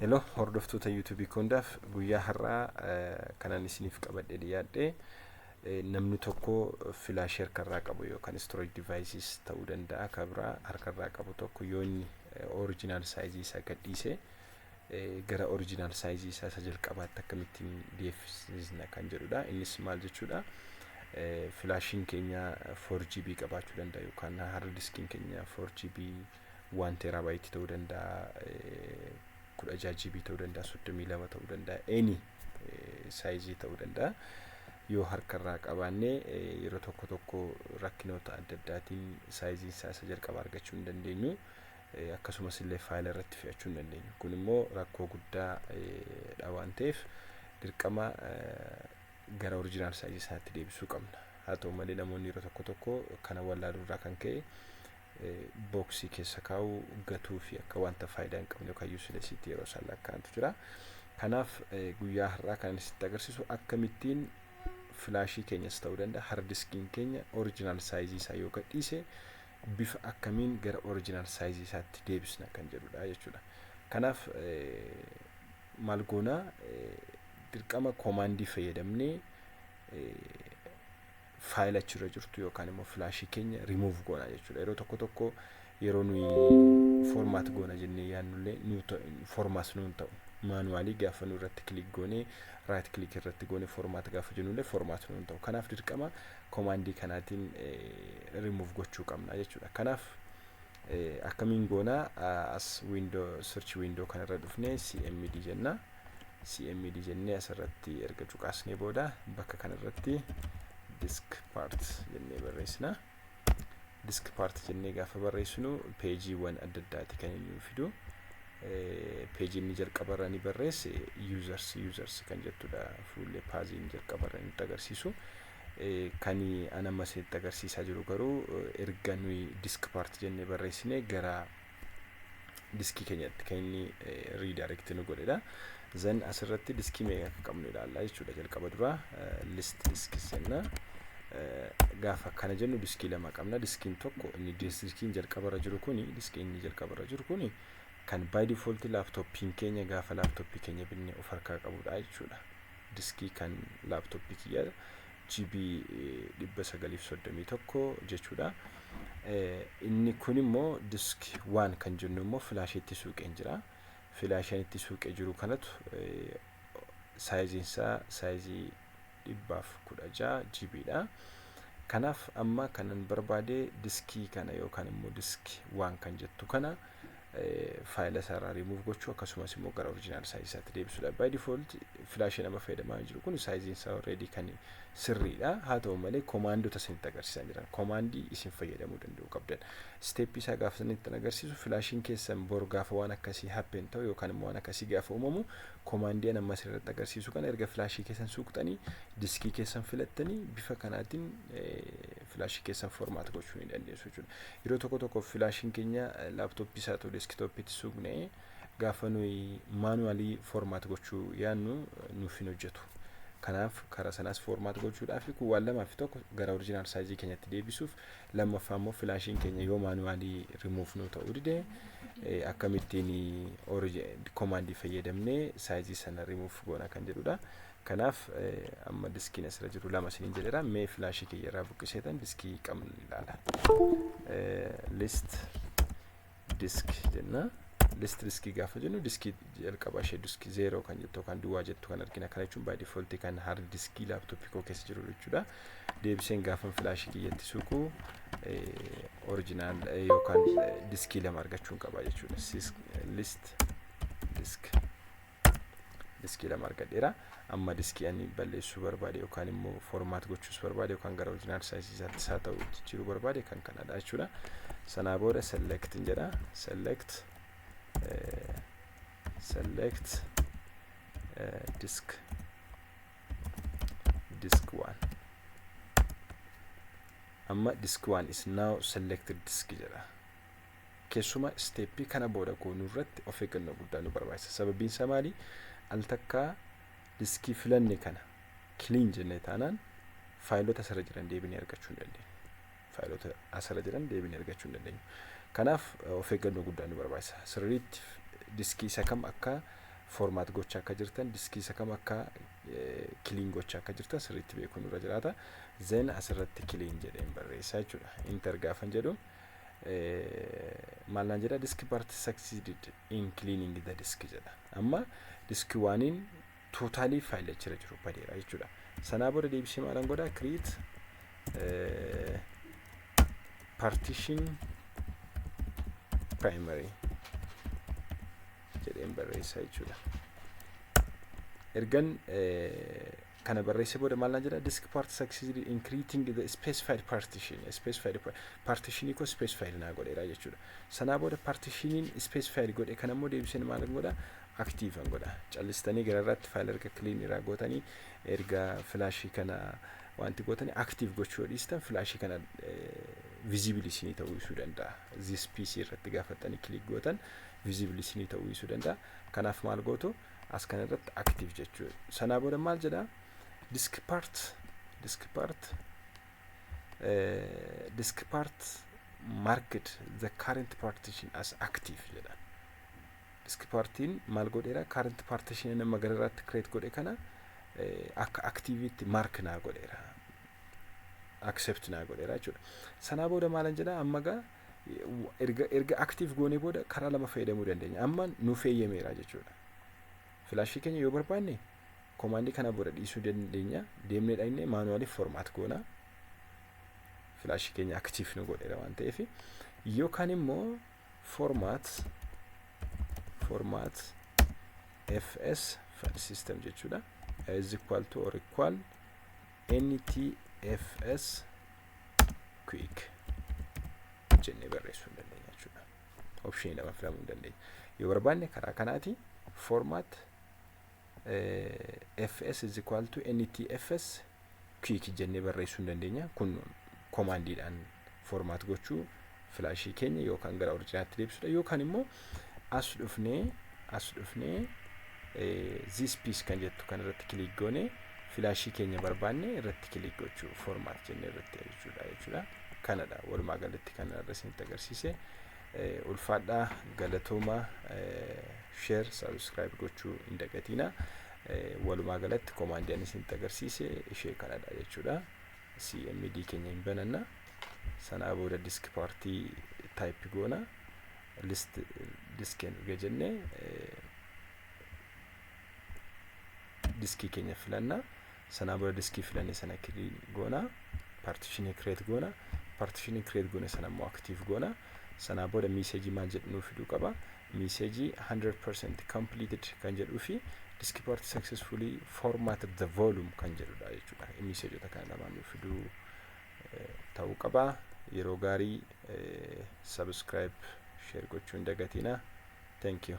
Hello hordoftoota YouTube hundaaf guyyaa har'aa kanaan isiniif qabadhee dhiyaadhe namni tokko filaashii harkarraa qabu yookaan storage devices ta'uu danda'a kan biraa harkarraa qabu tokko yoo inni original saayizii isaa gadhiise gara original saayizii isaa isa jalqabaatti akkamittiin deebisna kan jedhudha innis maal jechuudha filaashiin keenya 4GB qabaachuu danda'a yookaan hard diskiin keenya 4GB 1 terabyte ta'uu danda'a eh, 16 GB ta'uu danda'a 32 ta'uu danda'a any eh, saayizii ta'uu danda'a yoo harkarraa qabaanne eh, yeroo tokko tokko rakkinoota adda addaatiin saayiziin isaa isa jalqaba argachuu hin dandeenyu eh, akkasumas illee faayila irratti fe'achuu hin dandeenyu kun immoo rakkoo guddaa eh, dha waan ta'eef dirqama eh, gara orijinaal saayizii isaatti deebisuu qabna haa ta'u malee namoonni yeroo tokko tokko kana wallaaluu irraa kan ka'e booksii keessa kaa'uu, gatuu fi akka wanta faayidaa hin qabne yookaan useless itti yeroo isaan lakkaa'antu jira. Kanaaf guyyaa har'aa kan isinitti agarsiisu akkamittiin filaashii keenyas ta'uu danda'a hardiskiin keenya original saayizii isaa yoo gadhiise bifa akkamiin gara original saayizii isaatti deebisna kan jedhudha jechuudha. Kanaaf maal goona dirqama koomaandii fayyadamnee faayila achirra jirtu yookaan immoo filaashii keenya remove goona jechuudha. Yeroo tokko tokko yeroo nuyi format goona jennee yaannullee nu formas nuun ta'u. Maanuwaalii gaafa nu irratti kilik goonee raayit kilik irratti goonee format gaafa jennullee format nuun ta'u. Kanaaf dirqama komaandii kanaatiin remove gochuu qabna jechuudha. Kanaaf akkamiin goona as window search window kanarra dhufnee cmd jenna. cmd jennee asirratti erga cuqaasnee booda bakka kanarratti disk part jennee barreessina disk part jennee gaafa barreessinu peejiiwwan adda addaati kan inni fidu peejii inni jalqabarra ni barreesse users users kan jettudha fuullee paaziin jalqabarra nutti agarsiisu kan an amma isinitti agarsiisaa jiru garuu erga nuyi disk part jennee barreessine gara diskii keenyatti kan inni redirect nu godhedha. Zan asirratti diskii meeqa akka qabnu ilaalla jechuudha jalqaba dura list disk senna gaafa akkana jennu diskii lama qabna diskiin tokko inni diskiin jalqabarra jiru kuni diskii inni jalqabarra jiru kuni kan by default laaptooppiin keenya gaafa laaptooppii keenya binne of harkaa qabudha jechuudha. Diskii kan laaptooppii kiyya GB 931 jechuudha. Inni kun immoo disk waan kan jennu immoo filaashii itti suuqeen jira. Filaashaan itti suuqee jiru kanatu saayiziin isaa saayizii 116 GB dha. Kanaaf amma kanan barbaade diskii kana yookaan immoo disk waan kan jettu kana faayila isaa irraa remove gochuu akkasumas immoo gara original size isaatti deebisuudha. By default flash nama fayyadamaa jiru kun saayiziin isaa already kan sirriidha. Haa ta'u malee komaandota isinitti agarsiisan jiran komaandii isin fayyadamuu danda'u qabdan. Steepii isaa gaafa isinitti agarsiisu filaashiin keessan bor gaafa waan akkasii happen ta'u yookaan immoo waan akkasii gaafa uumamu komaandii an amma isinirratti agarsiisu kana erga filaashii keessan suuqxanii diskii keessan filattanii bifa kanaatiin filaashii keessan formaat gochuu ni dandeessu jechuudha. Yeroo tokko tokko filaashiin keenya laaptooppii isaa ta'u deeskitooppiitti suuqne gaafa nuyi maanuwaalii formaat gochuu yaadnu nuuf hin hojjetu. Kanaaf karaa sanaas formaat gochuudhaaf kun waan lamaa fi tokko gara orijinaal saayizii keenyatti deebisuuf lammaffaa immoo filaashiin keenya yoo maanuwaalii rimuuf nuu ta'uu dide akkamittiin komaandii fayyadamnee saayizii sana rimuuf goona kan jedhudha. Kanaaf amma diskiin asirra jiru lama isiniin jedheera. Mee filaashii kiyya irraa buqqiseetan diskii qabnu ni ilaala. List disk jenna. List diskii gaafa jennu diskii jalqaba ishee diskii zeeroo kan jettu yookaan duwwaa jettu kan argina. Kana jechuun baay difooltii kan haard diskii laaptooppii koo keessa jiru jechuudha. Deebiseen gaafan filaashii kiyyatti suuqu orijinaal yookaan diskii lama argachuun qaba jechuudha. List disk. diskii lama argadheera amma diskii ani balleessuu barbaade yookaan immoo formaat gochuus barbaade yookaan gara originaal saayizii isaatti isaa ta'u jijjiiruu barbaade kan kanadha jechuudha sanaa booda select jedha select select disk disk waan amma disk waan is now selected disk jedha Keessumaa isteeppii kana booda goonu irratti of eeggannoo guddaa nu barbaachisa. Sababiin isaa maali? Al takkaa diskii filanne kana kiliin jennee taanaan faayilota asirra jiran deebinee argachuu hin dandeenyu. Faayilota asirra jiran deebinee argachuu hin dandeenyu. Kanaaf of eeggannoo guddaa nu barbaachisa. Sirriitti diskii isa kam akka formaat gochaa akka jirtan, diskii isa kam akka kiliin gochaa akka jirtan sirriitti beekuun irra jiraata. Zeen asirratti kiliin jedheen barreessaa jechuudha. Inter gaafan jedhu maal naan jedha diski part succeeded in cleaning the disk jedha amma diski waaniin tootaalii faayila achirra jiru badeera jechuudha sanaa booda deebisee maalan godha create partition primary jedheen barreessaa jechuudha ergan kana barreessee booda maal naan jedha disk part succeeded in creating the specified partition specified pa- partition koo specified naa godheera jechuudha sanaa booda partitioniin specified godhe kan ammoo deebiseen maal godha active an godha callistanii gara irratti faayila erga clean irraa gootanii erga filaashii kana wanti gootanii active gochuu yoo dhiistan filaashii kana visible isinii ta'uu isuu danda'a this pc irratti gaafattanii click gootan visible isinii ta'uu isuu danda'a kanaaf maal gootu as kana irratti active jechuu sanaa booda maal jedha disk part disk part eh, disk part marked the current partition as active jedha disk partiin maal godheera current partition nama gara irratti create godhe kana eh, akka activitti mark naa godheera accept naa godheera jechuudha sanaa booda maalan jedha amma gaa erga erga active goonee booda karaa lama fayyadamuu dandeenya amma nu feeyyameera jechuudha filaashii keenya yoo barbaanne komaandii kana booda dhiisuu dandeenya deemnee dhaqnee maanuwaaliif formaat goona filaashii keenya active nu godheera waan ta'eef yookaan immoo formaat formaat fs file system jechuudha is equal to or equal ntfs quick jennee barreessuu hin dandeenya jechuudha. Opshinii lama filamuu hin dandeenya. Yoo barbaanne karaa kanaati format fs is equal to ntfs quick jennee barreessuu hin dandeenya. Kun komaandiidhaan format gochuu filaashii keenya yookaan gara orijinaatti deebisuudha yookaan immoo as dhufnee as dhufnee this piece kan jettu kan irratti kiliik goone filaashii keenya barbaanne irratti kiliik gochuu formaat jennee irratti jechuudha jechuudha kanadha walumaa galatti kan irra isinitti agarsiise ulfaadhaa galatooma sheer sabiskiraayib gochuu hin dagatiina walumaa galatti komaandii ani isinitti agarsiise ishee kanadha jechuudha. cmd keenya hin bananna sanaa booda disk paartii type goona list disk erga jenne diskii keenya filanna sanaa booda diskii filanne sana goona paartishinii kireet goona paartishinii kireet goone sana immoo aktiif goona sanaa booda miiseejii maal jedhu nuuf fiduu qaba message 100% completed kan jedhuu fi diski part successfully format the volume kan jedhudha jechuudha. Messageota kana lamaan nuuf fiduu ta'uu qaba. Yeroo gaarii subscribe share gochuu hin dagatina. Thank you.